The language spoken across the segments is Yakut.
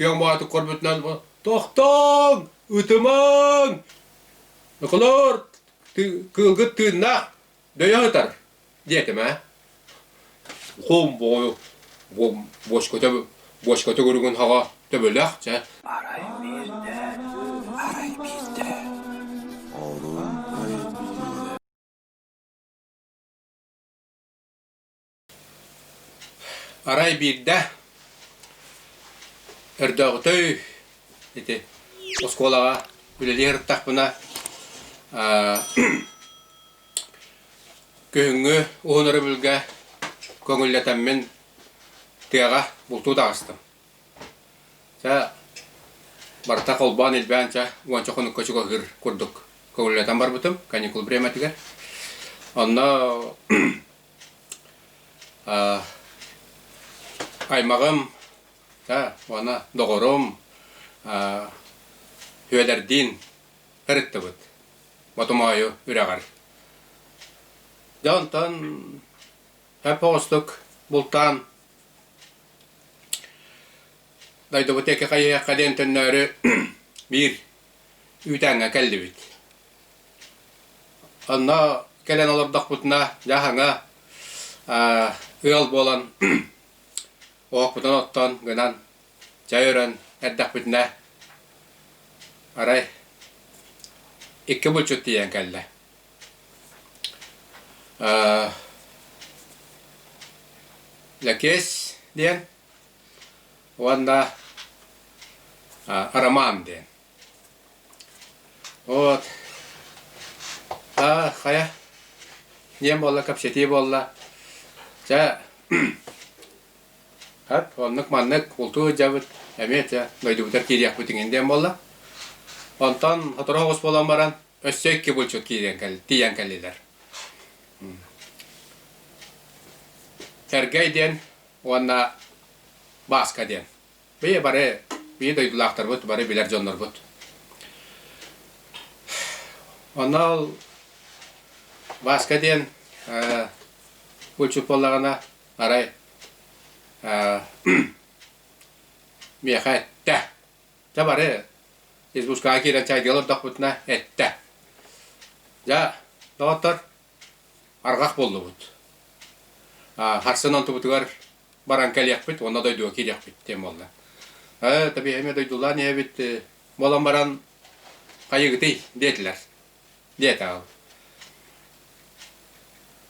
Күөн боотук көрбүтүнэн «Тохтооҥ! Ытымаҥ! Ыкылыр! Кыылгыт тыыннаах дөйө сытар!» диэтим ээ. Хоом боҕойу бочкота бочка төгүрүгүн саҕа төбөлөөх чэ арай биирдэ арай биирдэ Арай биирдэ өрдөөҕүтэй ити оскуолаҕа үлэлии сырыттахпына күһүҥҥү уһун өрөбүлгэ көҥүллэтэммин тыаҕа бултуу таҕыстым. Чэ барыта холбоон илбээн чэ уонча хонукка чугаһыыр курдук көҥүллэтэн барбытым каникул времэтигэр. Онно Аймаҕым уонна доҕорум Үөдэрдиин ырыттыбыт Ботомоойу үрэҕэр. Дьэ онтон эп оҕустук бултаан дойдубут диэки хайыһыахха диэн төннөөрү биир үүтээҥҥэ кэллибит. Онно кэлэн олордохпутуна, дьаһана, ыал буолан, оһохпутун оттон, гынан, чай өрөн эрдэхпитинэ, арай, икки булчут тиийэн кэллэ. Лэкиэс диэн уонна Арамаам диэн. Вот. Та хая. Дьиэм буолла, кэпсэтии буолла. Чэ, хат оннук маннык ултуу дьабыт эмиэ чэ дойдубутар киириэхпит иҥин диэн буолла. Онтон сотору оҕус буолан баран өссө икки булчут киирэн кэл тиийэн кэллилэр. Сэргэй диэн уонна Бааска диэн. Бэйэ бары, бэйэ дойдулаахтарбыт бары билэр дьоннорбут. Онно Васка диэн бучупалаҕына арай миэхэ эттэ. Дьэ бары из бушкаҕа киирэн чайдыга олордохпутуна эттэ. Дьэ, доҕоттор, Арҕах буоллубут. Харсын онтубутугар баран кэлиэхпит уонна дойдуга киириэхпит диэн буолла. Ээ, табиһа эмиэ дойдулаан иһэбит, буолан баран хайыгытый? диэтилэр. Диэтэҕим.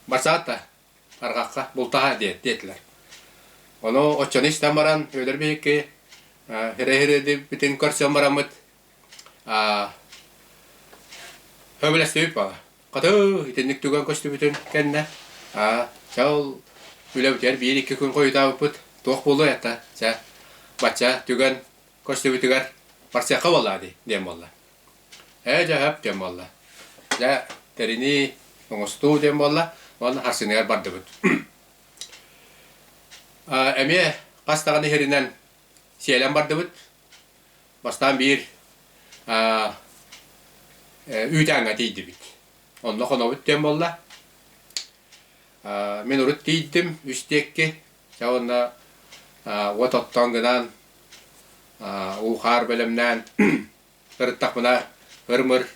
Барсаата, арҕахха бултаһа диэт диэтилэр. Ону оччону истэн баран, Өлөр биһикки, һирэ-һирэ дибитин көрсөн бараммыт, Көмөлөстүбүт Хоту итинник түгэн көстүбүтүн кэннэ чал үлэ бүтэр биир-икки күн хойутаабыппыт туох буолуой ата чэ бачча түгэн көстүбүтүгэр барсыахха буоллаа дии диэн буолла ээ дьэ диэн буолла дьэ тэринии оҥостуу диэн буолла уонна харсыныгар бардыбыт эмиэ хас даҕаны иһэринэн сиэлэн бардыбыт Бастаан биир үүтээҥҥэ тиийдибит. Онно хонобут диэн буолла. Мин урут тиийдим үстиэкки, чэ уонна уот оттоон гынаан, уу-хаар бэлэмнээн, сырыттахпына ыр-мыр,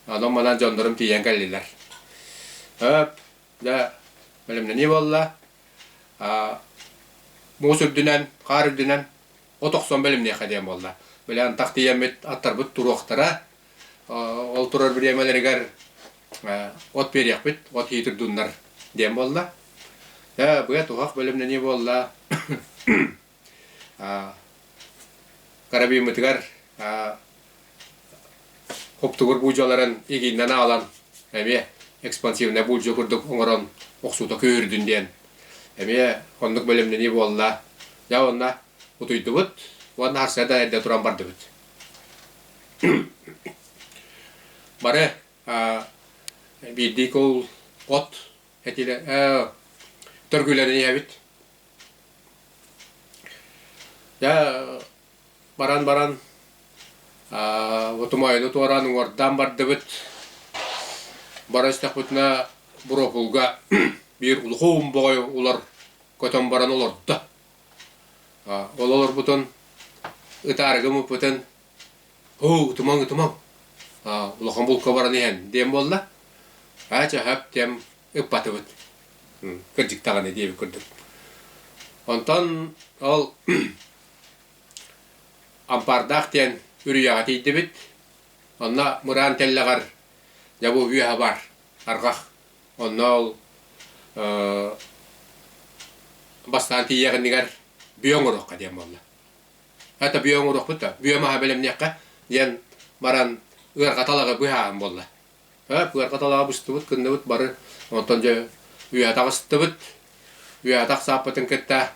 онон-манан дьоннорум тиийэн кэллилэр. Һөөп, дьэ бэлэмнэнии буолла. муус үрдүнэн, хаар үрдүнэн от охсон бэлэмниэххэ диэн буолла. Били антах тиийэммит аттарбыт туруохтара. Ол турар бириэмэлэригэр от биэриэхпит, от хиитирдуннар диэн буолла. Быа туһах бэлэмнэнии буолла. Карабиммытыгар Уктугур буулдьаларын игииннэн аҕалан эмиэ экспансивнай буулдьа курдук оҥорон охсуута күүһүрдүн диэн эмиэ оннук бэлэмнэнии буолла. Дьэ уонна утуйдубут уонна харса да эрдэ туран бардыбыт. Бары биирдии кул от этиилэ төргүүлэрин иһэбит. Дьэ баран баран отумайыны туораан уҥуордаан бардыбыт бара истэхпитинэ буропулга биир улахан боҕой улар көтөн баран олордо ол олорбутун ытаарыгым ыппытын һуу ытымаҥ ытымаҥ улахан булка баран иһэн диэн буолла аа чаһап диэн ыппатыбыт кырдьык даҕаны диэбит курдук онтон ол Ампаардаах диэн үрүйэҕэ тиийдибит. Онно мыраан тэллэҕэр дьабыл үөһэ баар, арҕах. Онно ол бастаан тиийиэх иннигэр бүө оҥоруохха диэн буолла. Это бүө оҥоруохпут да, бүө маһа бэлэмниэххэ, диэн баран ыарҕа талаҕы быһааран буолла. Э, пыарга талаабыстыбыт, кынныбыт бары. Онтон дьэ үө атаҕастыбыт. Үө атах сааппытын кытта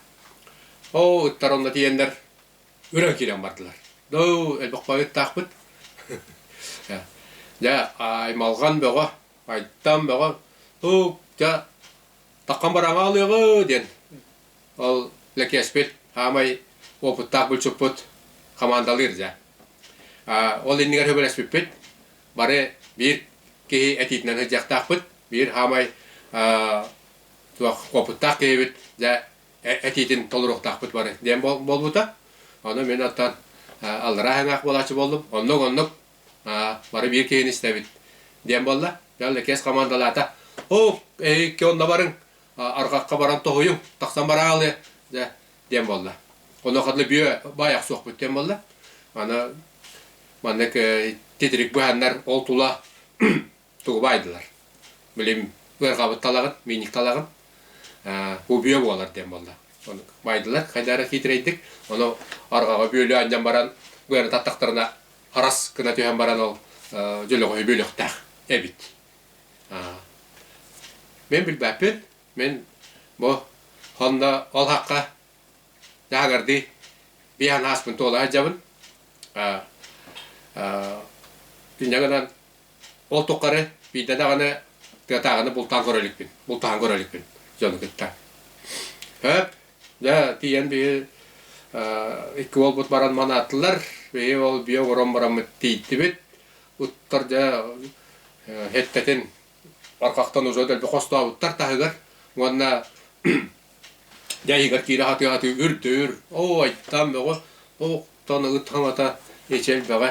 оо ыттар онно тиийэннэр үрэ киирэн бардылар. Дуу, элбэххэ ыттаахпыт. Дьэ аймалҕан бөҕө, айтан бөҕө, һуу, дьэ таххан бараҥа алыаҕы диэн ол Лэкиэспит хаамай уопуттаах булчуппут хамаандалыыр дьэ. Ол иннигэр хөбүлэспиппит, бары биир киһи этиитинэн сылдьыахтаахпыт, биир хаамай уопуттаах киһибит дьэ этиитин толоруохтаахпыт бары диэн буолбута. Ону мин оттон аллараа хаҥаах буолааччы боллум. Оннук-оннук бары биир киһини истэбит диэн буолла. Дьон иккиэс командалаата. Оо, икки онно барыҥ, арҕахха баран тоһуйуҥ, тахсан бараалыа, дэ, диэн буолла. Онуоха дылы бүө баайах суохпут диэн буолла. Аны маннык титирик быһаннар ол тула тугу баайдылар. Билим ыарҕабыт талаҕын, миник талаҕын бу бүө буолар диэн буолла. Ону баайдылар, хайдары хиитирэйдик. Ону арҕаҕа бүөлү анньан баран быаны таттахтарына арас гына түһэн баран ол дьөлөҕөһү бүөлөхтээх эбит. Мин билбэппин. Мин бу сонно ол хахха таһыгардыы биһан ааспын туола алдьабын. Күннэ гынан ол туххары биирдэ даҕаны тыатааҕыны бултаан көрө иликпин. Бултаһан көрө иликпин дьону кытта. Хөп, дьэ тиийэн биһи икки уолбут баран манаатылар. Биһи ол биэ олорон бараммыт тииттибит. ыттар дьэ эттэтин арҕахтан уже дэлби хостообуттар таһыгар уонна дьэ иһигэр киирэ хатыы хатыы үрдүр оо айтам бөҕө оттон ыт хаҥата ичэлбэҕэ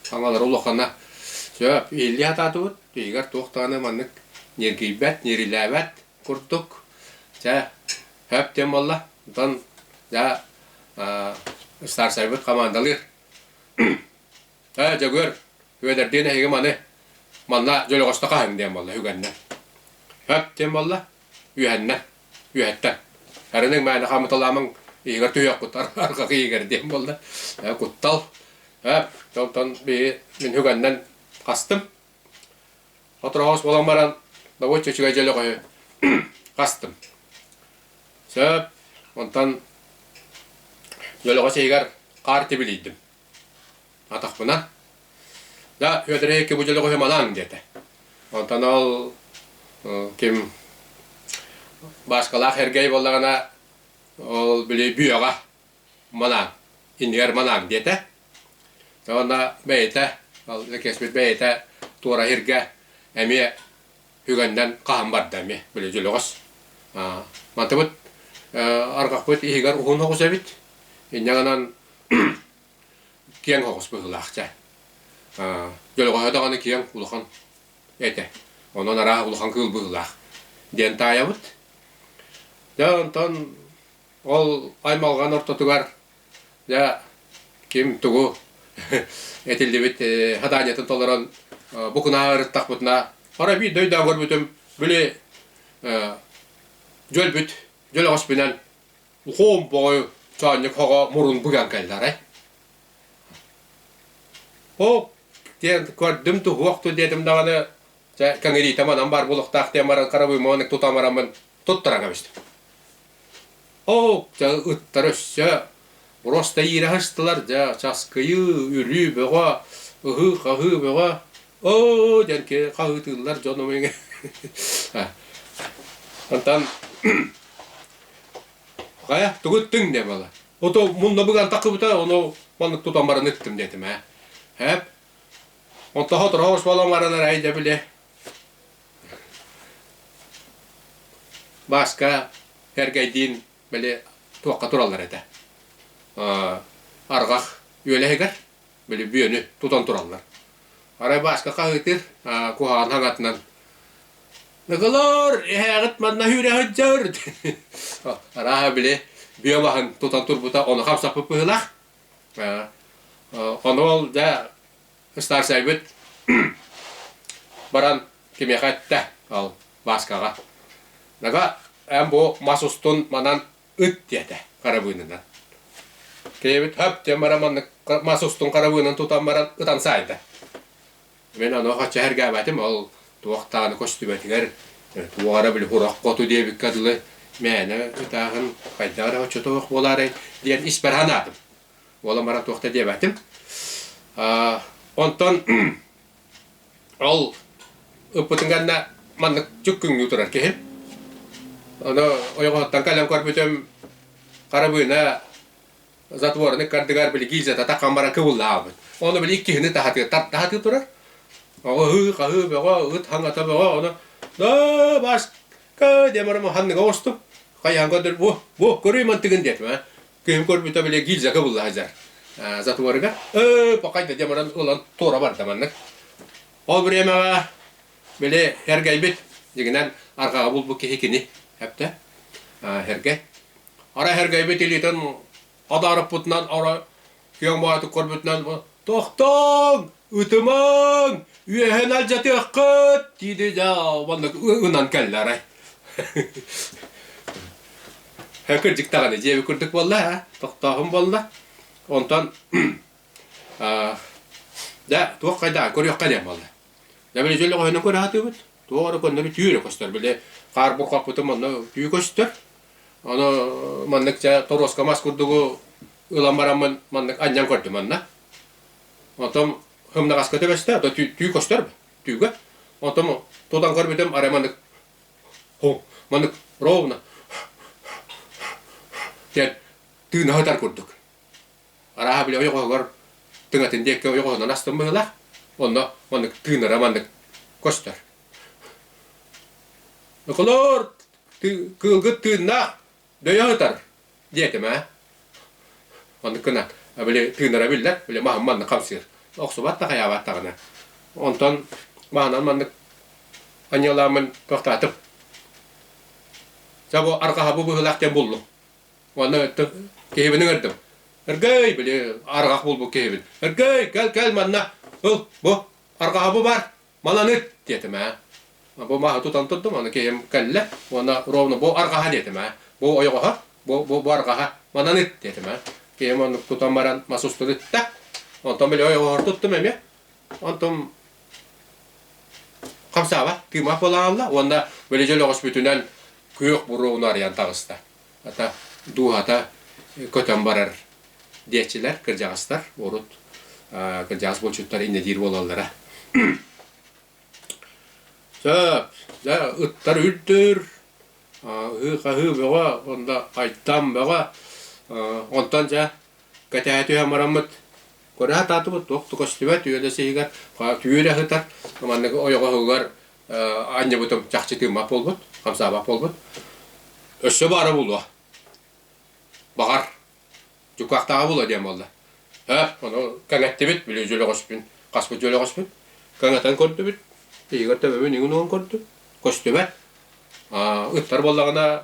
хаҥалара улахана сөп ииллии хатаатыбыт иһигэр туох даҕаны маннык ньиргийбэт ньирилээбэт курдук дьэ хөп диэн буолла оттон дьэ старсайбыт хамаандалыыр Э, Дьөгүөр, Үөдэрдиин эһигим аны манна Дьөлөҕөстө хаһыҥ диэн буолла үгэннэн. Эп диэн буолла үһэннэн, үһэттэн. Арыныҥ мээнэ хамыталаамаҥ иһигэр түһүөхкут арҕаҕы иһигэр диэн буолла. Э, куттал. Эп, тонтон биһи мин үгэннэн хастым. Отроҕос болаң баран добуочча үчүгэй дьөлөҕөһү хастым. Сөп, онтон Дөлөҕөс иһигэр хаар тибилийдим. Атахпына, да Үөдэрэй икки бу малаан диэтэ. Онтон ол ким Баашкалаах Эргэй буоллаҕына, ол били Бүөҕэ малаан, инигэр малаан диэтэ. Уонна бэйэтэ, ол кэспит бэйэтэ туора иһиргэ эмиэ Үгэннэн хаһан барда эмиэ, били дьөлөҕөс. Мантыбыт арҕахпыт иһигэр уһун оҕус эбит. Инньэ киэҥ оҕус быһыылаах дьэ. Дьөлөҕөһө даҕаны киэҥ улахан этэ. Онон арааһа улахан кыыл быһыылаах диэн таайабыт. Дьэ онтон ол аймалҕан ортотугар Дьэ, ким тугу этиллибит хадаанньатын толорон бу кунааҕы ырыттахпытына, бары биир дойдоҕо көрбүтүм били дьөлбүт дьөл өҕөспүнэн ухуом боҕой чоонньук хоҕо мурун быган кэллэҕэй. Оп диэн көрдүм туһуох ту диэтим даҕаны чэ кэҥириитэ манан баар буолуохтаах диэн баран каравыммын тута бараммын туттаран кэбистим. Оо, чэ, ыттар өссө просто иирэхэстилэр дьэ, часкыйыы, үлүү бөҕө, ыһыы-хаһыы бөҕө, оо дьэнки хаһыытыыллар дьон омуйуҥ Онтон хайа тугу ыттыҥ диэ буолла ото мунна быган таккыбыта ону маннык тутан баран ыттым диэтим ээ ээп онтоҕо тоҕо орсуолаҥ баранар ай дьэ били Бааска эргэйдиин били туохха тураллар этэ? Арҕах үөлэһигэр били бүөнү тутан тураллар. Арай Бааска хаһыытыыр куһаҕан хаҥатынан «Ныгылоор, эһээҕит манна сүүрэҕит дьөр!» Арааһа били бүө маһын тутан турбута ону хамсаппыт быһыылаах. Ону ол дьэ Ыстаарсайбыт баран кимиэхэ эттэ ол Маскаҕа. Нага эн бу мас устун манан ыт диэтэ харабыынынан. Киэбит хөп диэн баран маннык мас устун харабыынын тутан баран ытан саайда. Мин ону хачча эргээбэтим ол туохтааны көстүбэтигэр туох эрэ били курах хоту диэбиккэ дылы мээнэ ытааһын хайдах эрэ оччотоох буолаарай диэн испэр санаатым. Уола мара туох да диэбэтим. Онтон ол ыппытын кэннэ маннык жүк күҥнүү турар киһи. Ону ойоҕоһуттан кэлэн көрбүтүм харабыына затворник кардыгар били гильзата таххан бара кыбыллаабыт. Ону били иккиһини таһатыы таһатыы турар. Оҕо ыһыы хаһыы бөҕө ыт хаҥата бөҕө ону да баска диэн барам ханныга оҕустум. Хайаан көрдөр бу бу көрүй мантыгын диэтим Күһүн көрбүтэ били гильзага булла сылдьар затворыгар. Өө, покайда диэн баран ылан туора барда маннык. Ол времеҕа били эргэйбит дигинэн арҕаҕа булбут киһи кини эптэ. Эргэй. Ара эргэйбит илиитин адаарыппытынан ора Күөн Боотук көрбүтүнэн «Тохтооҥ! Ытымаҥ! Үөһэн алдьатыаххыт!» диidi дьэ уонна ынан кэллэ арай. Кырдьык даҕаны дьиэби курдук буолла аа, тохтооһун буолла. Онтон дьэ туох хайдаа көрүөххэ диэн буолла. Дьэ били дьөл өҕөһүнэн көрө сатыыбыт. Туох эрэ көннөбү түүрэ көстөр. Били хаар булхаппытым онно түү көстөр. Ону маннык дьэ торуоска мас курдугу ылан бараммын маннык анньан көрдүм манна. Онтон хымнаҕаска төбөстө, ото түү, түү көстөр бу, түүгэ. Онтон тутан көрбүтүм арай маннык ху, маннык ровно диэн тыына сытар курдук. Арааһа, били ойоҕоһугар тыҥатын диэкки ойоҕоһунан астым быһыылаах. Онно маннык тыынара маннык көстөр. Ыкылоор, кыылгыт тыыннаах дөйө сытар диэтим ээ. Оннук гынан били тыынара биллэр, били маһым маннык хамсыыр. Охсубат да хайаабат даҕаны. Онтон маһынан маннык анньыалааммын туохтаатым. Дьэ бу арҕаһа бу быһыылаах диэн буллум. Уонна киһибин ыҥырдым. Ыргый, били арҕах булбут киһибин. Ыргый, кэл, кэл манна. Ыл, бу арҕаҕа бу бар. Маланы диэтим ээ. Бу мааһы тутан турдум, аны киһим кэллэ уонна ровно бу арҕаһа диэтим ээ. Бу ойоҕоһо, бу, бу, бу арҕаһа, мананы диэтим ээ. Киһим оннук тутан баран мас устун ытта. Онтон били ойоҕоһор туттум эмиэ. Онтум Хамсаава, кыымаах буолан хаалла уонна бөлөдьөл өҕөспүтүнэн күөх буруону арыйан таҕыста. Хата, дууһата көтөн барар диэччилэр, кырдьаҕастар, урут кырдьаҕас булчуттар иннэтиир буолаллара. Сөп, дьэ, ыттар үлтүр, аһыы-хаһыы бөҕө уонна айтам бөҕө. Онтон, дьэ, кэтэһэ түһэн бараммыт Кураһа таатыбыт туох көстүбэт үөдэ сиһигэр түүр аһытар, манныгы ойоҕоһугар анньыбытым чахчытыымах буолбут, хамсаабах буолбут. Өссө баара булуо. Баҕар, дьукаахтааҕа булуо диэн буолла. Ө, ону кэҥэттибит, били дьөлөҕөспүн, хаспыт дьөлөҕөспүн. Кэҥэтэн көрдүбүт, иһигэр төбөбүн иҥин уган көрдүм, көстүбэт. Ыттар буоллаҕына,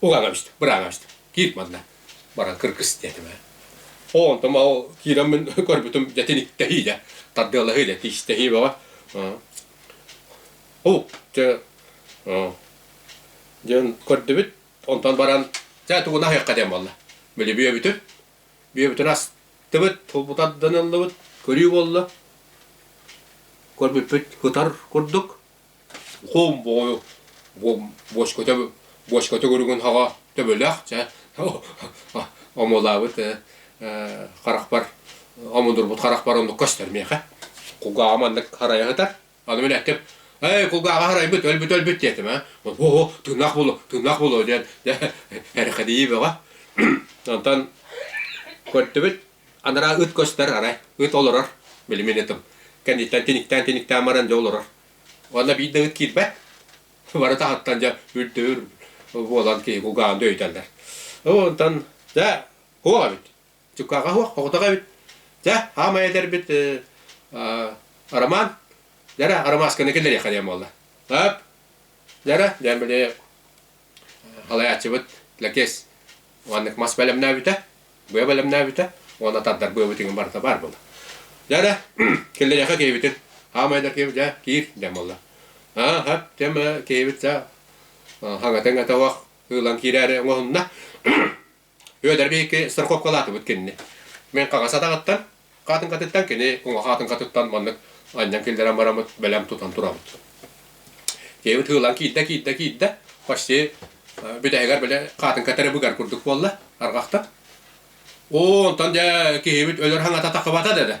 Угаҕабыст, быраабабыст. Киир манна. Баран кыргыс диэтим ээ. Оо, онтум ол киирэн мин көрбүтүм титиниктэһии дэ, тардыалаһыы дэ, тиистэһии баҕа. Уу, дьэ, диэн көрдүбүт. Онтон баран дьэ тугун аһыахха диэн буолла. Били бүөбүтү, бүөбүтүн астыбыт, булбутарданыллыбыт көрүү буолла. Көрбүппүт кытар курдук, Хоомбоҕойу Бочкота Бочка төгүрүгүн хаҕа төбөлөөх чэ омолаабыт харахпар омундурбут харахпар оннук көстөр миэхэ кулгааҕым маннык харайа сытар аны мин эттим эй кулгааҕа харайбыт өлбүт өлбүт диэтим ээ оо тыынах булу тыынах булу диэн эрэхэдийи бөҕө онтон көрдүбүт Анараа ыт көстөр, арай ыт олорор. Билимин ытым. Кэнниттэн тиниктээн-тиниктээн баран дьэ олорор. Уонна биирдэ ыт киирбэт. Бары таһыттан дьэ үрдүүр буолан киһи кулгааҕын дөйүтэллэр. Онтон дьэ хуох эбит. Чуккаҕа хуох, хоҕутах эбит. Дьэ хаамай эдэрбит Роман дьэ эрэ Ромасканы киллэриэххэ диэн буолла. Өп дьэ эрэ диэн били Алаяччыбыт Лакес уоннык мас бэлэмнээбитэ, быа бэлэмнээбитэ уонна тардарбыабытыгын барыта баар була. Дьара, киллэриэхэ киэбитин, аамайдар киэбит, дьэ, киир, дьэ буолла. Аа, хап, тем киэбит, саа, хаҥатын өтөҕөх ылан киирээри оҥоһунна. Үөдэрби икки страховкалаатыбыт кинини. Мен хаҥас атаҕыттан, хаатыҥкатыттан, кини уҥа хаатыҥкатыттан маннык анньан киллэрэн бараммыт, бэлэм тутан турабыт. Киһибит hыылан киирдэ, киирдэ, киирдэ. Почти бүтэһигэр били хаатыҥка тэребигэр курдук буолла, арҕахта. Оо, онтон дьэ киһибит өлөр хаҥата тахыбата дадэ.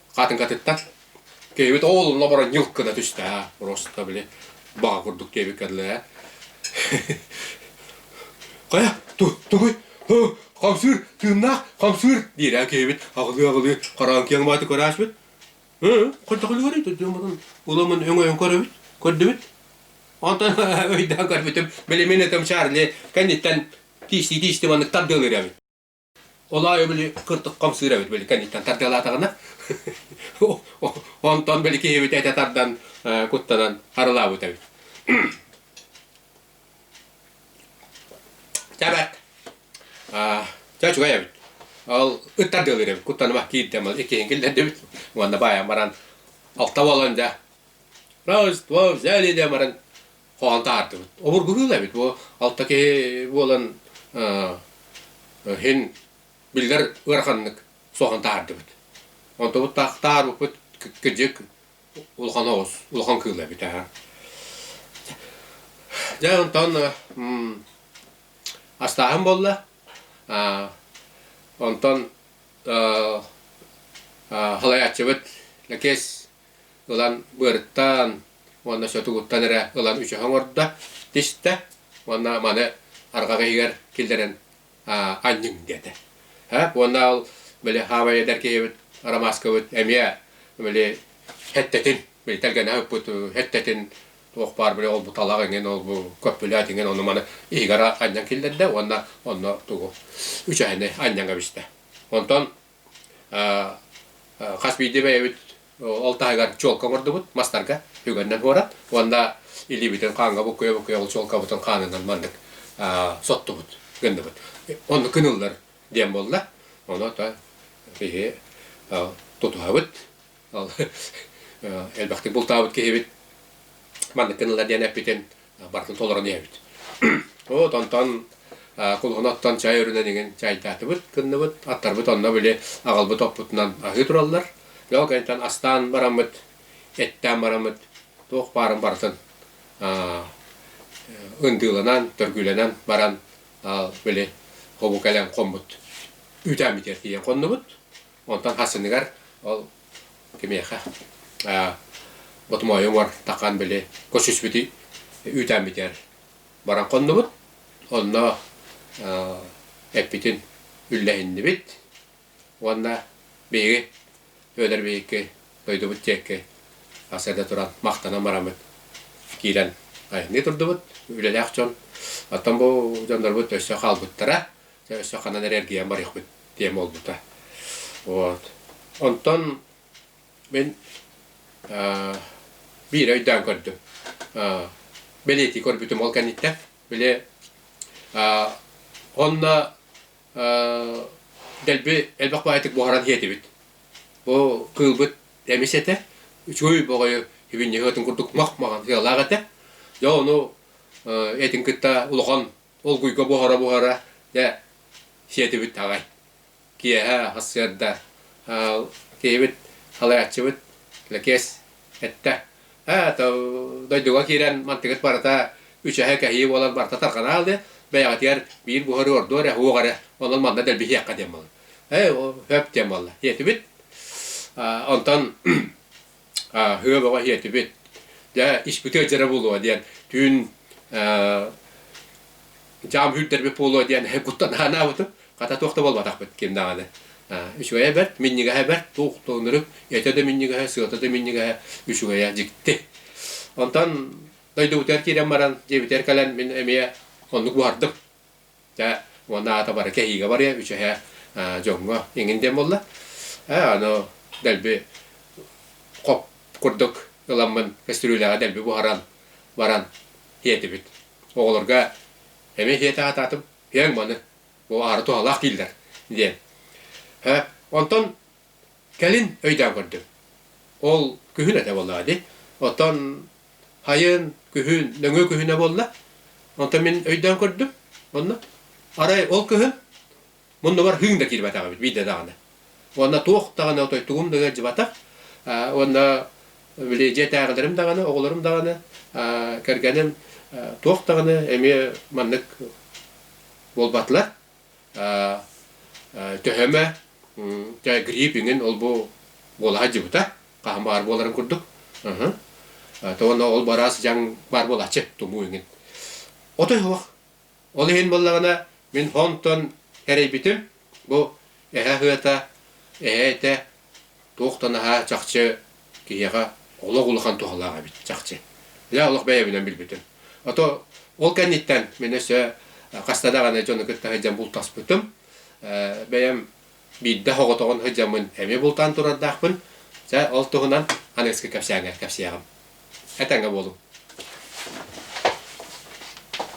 Хаатыҥкатыттан киһибит оол обара ньылкына түстэ аа просто били баҕа курдук диэбит кэллэ ээ хайа тугуй хамсыыр тыыннаах хамсыыр диир ээ киһибит аҕылыы-аҕылыы хараҕын киэҥ мааты көрөөччүбүт ээ хайдахалыгар дьоммутун уламын өҥөйөн көрөбүт көрдүбүт онтон өйдөөн көрбүтүм били мин этим чарли кэнниттэн тиистии-тиистии маннык тардыалыыр эбит Ол аайы били кыртык хамсыыр эбит били кэнниттэн тардыалаатаҕына. Онтон били киһибит этэ тардан куттанан харылаабыт эбит. Чэ бэт. Чэ үчүгэй эбит. Ол ыттардыалыыр эбит. Куттаныма киирдэм ыл иккиһин киллэрдибит. Уонна баайан баран алта буолан да. Раз, два взяли да баран хоһоон таһаардыбыт. Обургуһуулар эбит бу алта киһи буолан иһин биллэр ыараханнык суохан таһаардыбыт. Онтубут таарбыппыт кыдьык улахан оҕус, улахан кыыл эбит аа. Дьэ онтон астааһын болла. Онтон халайааччыбыт Лакес ылан быарыттаан уонна сөтү куттан эрэ ылан үчэһэ оҥордо, тистэ уонна маны арҕах иһигэр киллэрэн анньыҥ диэтэ. Уонна ол били хаамай эдэр киһибит Ромашкабыт эмиэ били эттэтин, били тэлгэнэ ыппыт эттэтин туох баар били ол бу талах иҥин, ол бу көппүлэт иҥин ону маны иһигэр анньан киллэрдэ уонна онно тугу үчэһэни анньан кэбистэ. Онтон хас биирдии бэйэбит ол таһыгар чуолка оҥордубут мастарга үгэнинэн буолар уонна илиибитин хааҥҥа буккуйа-буккуйа ол чуолкабытын хаанынан маннык соттубут гынныбыт онно кыныллар диэн буолла ону то киһи тутуһабыт элбэхтик бултаабыт киһибит маннык кыныллар диэн эппитин барытын толорон иһэбит. От онтон кулуһунаттан чай өрүнэн иҥин чайдаатыбыт, кынныбыт, аттарбыт онно били аҕалбыт оппутунан аһыы тураллар. Ол кэнниттэн астаан бараммыт, эттээн бараммыт туох баарын барытын ындыыланан, төргүүлэнэн баран били хому кэлэн хоммут үүтээммитигэр тиийэн хоннубут. Онтон хасыныгар ол Кимиэхэ ботумуойу уҥар таххаан били кус үспүтү үүтээн бүтэр баран хоннубут. Онно эппитин үллэһиннибит уонна биһиги Үөдэр биһикки дойдубут диэки хас эрдэ туран махтанан бараммыт киирэн айанныы турдубут. Үлэлээх дьон, оттон бу дьоннорбут өссө хаалбыттара. Дьэ, өссө ханан эрэ эргийэн барыахпыт диэн буолбута. Вот. Онтон мин аа, биир өйдөөн көрдüm. Аа, бэлиэтии көрбүтүм ол кэнниттэн. Били аа, онно аа, дэлби элбэх баайытык буһаран иһэтибит. Бу кыылбыт эмис этэ. Үчүгэй бөҕөйө һибинньиһи атын курдук мах маҕан сыалаах этэ. Дьэ, ону э, этин кытта улахан Олгуйга буһара-буһара дьэ сиэтибит аҕай. Киэһэ сарсыарда киһибит халайааччыбыт Лэкиэс эттэ ээ то дойдуга киирэн мантыгыт барыта үчэһэ кэһии буолан барыта тарҕанаал диэн бэйэҕитигэр биир буһары ордуо эрэ уох эрэ онон манна дэлбиһиэххэ диэн буолла ээ өп диэн буолла диэтибит онтон Һыа баҕа иһиэтибит. Дьэ, испитэ дьэрэ буолуо диэн түүн дьаам үүрдэрбит буолуо диэн куттан анаабытым. Хата туох да буолбатахпыт ким даҕаны. Үчүгэйэ бэрт, минньигэһэ бэрт, туох да оннук. Этэ да минньигэһэ, сыата да минньигэһэ, үчүгэйэ дьикти. Онтон дойдубутугар киирэн баран, дьиэбитигэр кэлэн мин эмиэ оннук буһардым. Дьэ, уонна аата бары кэһиигэ барыа, үчүһэ дьоҥҥо иҥин диэн буолла. Ээ, аны дэлби хоп курдук ыламмын көстүрүүлээҕи дэлби буһаран баран тиэтибит. Оҕолорго эмиэ тиэтэ аатаатым, иэҥ маны, бу аары туһалаах дииллэр, диэн. Онтон Кэлин өйдөөн көрдүм. Ол күһүн этэ буоллаҕа дии. Оттон хайын, күһүн нөҥүө күһүнэ буолла. Онтон мин өйдөөн көрдүм. Онно арай ол кыһын муннубар хыыҥ да киирбэтэх эбит биирдэ даҕаны. Уонна туох даҕаны отой тугум да ыалдьыбатах. Уонна били дьиэтээҕилэрим даҕаны, оҕолорум даҕаны, кэргэним туох даҕаны эмиэ маннык буолбатылар. төһөмө грипп иҥин ол-бу буола сылдьыбыта хаһан баар буоларын курдук то уонна ол бараас дьаҥ баар буолааччы тумуу иҥин отой суох ол иһин буоллаҕына мин хонтон эрэйбитим бу эһэ ыһыата эһэ этэ Туох да наһаа чахчы киһиэхэ олох улахан туһалаах эбит, чахчы. Дьэ, олох бэйэбинэн билбитим. А то ол кэнниттэн мин өссө хаста даҕаны дьону кытта сылдьан бултаспытым. Бэйэм биирдэ соҕотоҕун сылдьаммын эмиэ бултаан турардаахпын. Дьэ, ол туһунан аныгыскы кэпсээҥҥэр кэпсиэҕим. Этэҥҥэ буолуҥ.